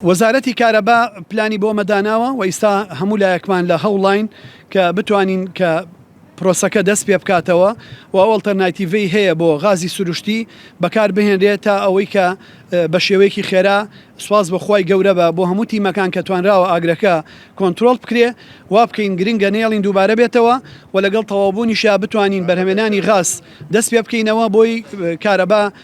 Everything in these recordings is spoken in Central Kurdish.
وەزارەتی کارەبا پلانی بۆ ئەمە داناوە و ئیستا هەموو لایەکمان لە هەوڵاین کە بتوانین کە پرۆسەکە دەست پێ بکاتەوە و ئەو ئەڵتەرناتیڤەی هەیە بۆ غازی سروشتی بەکار بهێنرێ تا ئەوەی کە بە شێوەیەکی خێرا سواز بە خوای گەورە بە بۆ هەموو تیمەکان کە توانراوە ئاگرەکە کۆنترۆڵ بکرێ وا بکەین گرنگە نێڵین دووبارە بێتەوە و لەگەڵ تەواوبوونیشا بتوانین بەرهەمێنانی غاز دەست پێ بکەینەوە بۆی کارەبا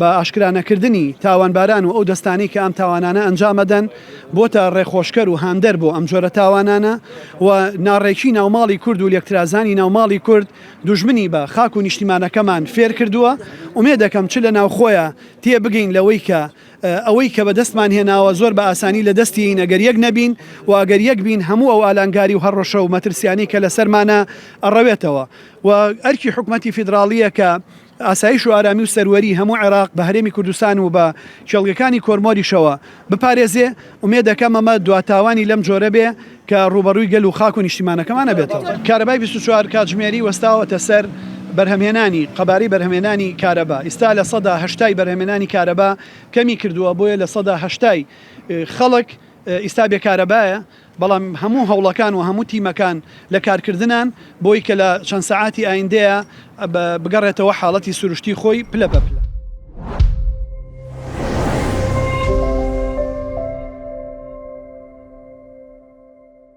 بە ئاشکرا نەکردنی تاوانباران و ئەو دەستانەی کە ئەم تاوانانە ئەنجام ئەدەن بۆتە ڕێخۆشکەر و هاندەر بۆ ئەم جۆرە تاوانانە و ناڕێکی ناو ماڵی کورد و لێکترازانی ناو ماڵی کورد دوژمنی بە خاک و نیشتیمانەکەمان فێر کردووە ئومێد دەکەم چ لە ناوخۆیە تێ بگەین لەوەی کە ئەوەی کە بە دەستمان هێناوە زۆر بە ئاسانی لە دەستیین ئەگەر یەک نەبین و ئەگەر یەک بین هەموو ئەو ئالانگاری و هەڕەشە و مەترسیانەی کە لە سەرمانە ئەڕەوێتەوە و ئەرکی حکومەتی فیدراڵییە کە ئاسایش و ئارامی و سەروەری هەموو عێراق بە هەرێمی کوردستان و بە کێڵگەکانی کۆرمۆریشەوە بپارێزێ، ئومێدەکەم ئەمە دوا تاوانی لەم جۆرە بێ کە ڕووبەڕووی گەل و خاک و نیشتیمانەکەمان ئەبێتەوە. کارەبای بیست و چوار کاتژمێری وەستاوەتە سەر بەرهەمهێنانی، قەبارەی بەرهەمهێنانی کارەبا ئیستا لە سەدا هەشتای بەرهەمهێنانی کارەبا کەمی کردووە، بۆیە لە سەدا هەشتای خەڵک ئیستا بێ کارەبایە، بەڵام هەموو هەوڵەکان و هەموو تیمەکان لە کارکردنان بۆی کە لە چەند سەعاتی ئایندەیە بگەڕێتەوە حاڵەتی سروشتی خۆی پلە بە پلە.